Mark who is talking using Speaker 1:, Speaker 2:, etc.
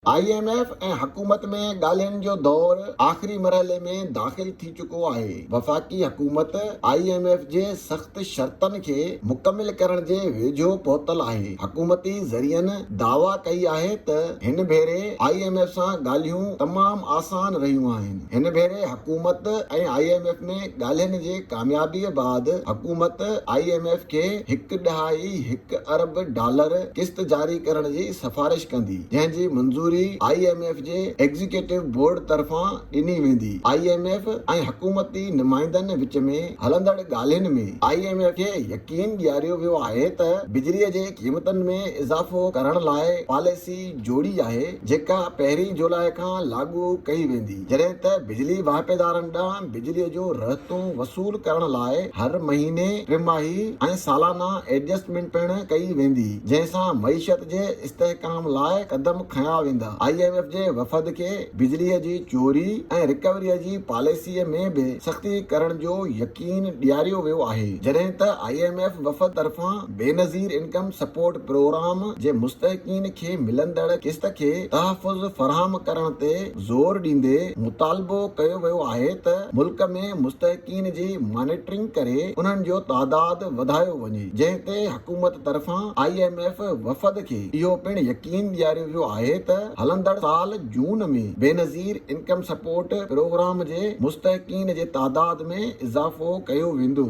Speaker 1: I M F ۽ حڪومت ۾ ڳالهين جو دور آخري مرحلي ۾ داخل ٿي چڪو آهي، وفاقي حڪومت آء ايم ايف جي سخت شرطن کي مڪمل ڪرڻ جي ويجهو پهتل آهي، حڪومتي ذريعن دعويٰ ڪئي آهي ته هن ڀيري آء ايم ايف سان ڳالهيون تمام آسان رهيون آهن، هن ڀيري حڪومت ۽ آء ايم ايف ۾ ڳالهين جي ڪاميابيء بعد حڪومت آء ايم ايف کي هڪ ڏهائي هڪ ارب ڊالر قسط جاري ڪرڻ جي سفارش ڪندي، جنهن جي منظوري آء ايم ايف جي ايگزيڪيوٽو بورڊ طرفان ڏني ويندي. آء ايم ايف ۽ حڪومتي نمائندن وچ ۾ هلندڙ ڳالهين ۾ آء ايم ايف کي يقين ڏياريو ويو آهي ته بجلي جي قيمتن ۾ اضافو ڪرڻ لاء پاليسي جوڙي آهي، جيڪا پهرين جولاء کان لاڳو ڪئي ويندي. جڏهن ته بجلي واهپيدارن ڏانهن بجلي جو رهتون وصول ڪرڻ لاء هر مهيني، ٽماهي ۽ سالانه ايڊجسٽمينٽ پڻ ڪئي ويندي، جنهن سان معيشت جي استحڪام لاء قدم کنيا ويندا. آء ايم ايف جي وفد کي بجلي جي چوري ۽ رڪوري جي پاليسي ۾ به سختي ڪرڻ جو يقين ڏياريو ويو آهي، جڏهن ته آء ايم ايف وفد طرفان بينظير انڪم سپورٽ پروگرام جي مستحقين کي ملندڙ قسط کي تحفظ فراهم ڪرڻ تي زور ڏيندي مطالبو ڪيو ويو آهي ته ملڪ ۾ مستحقين جي مانيٽرنگ ڪري انهن جو تعداد وڌايو وڃي جنهن تي حڪومت طرفان آء ايم ايف وفد کي اهو پڻ يقين ڏياريو ويو آهي ته هلندڙ سال جون ۾ بينظير انڪم سپورٽ پروگرام جي مستحقين جي تعداد ۾ اضافو ڪيو ويندو.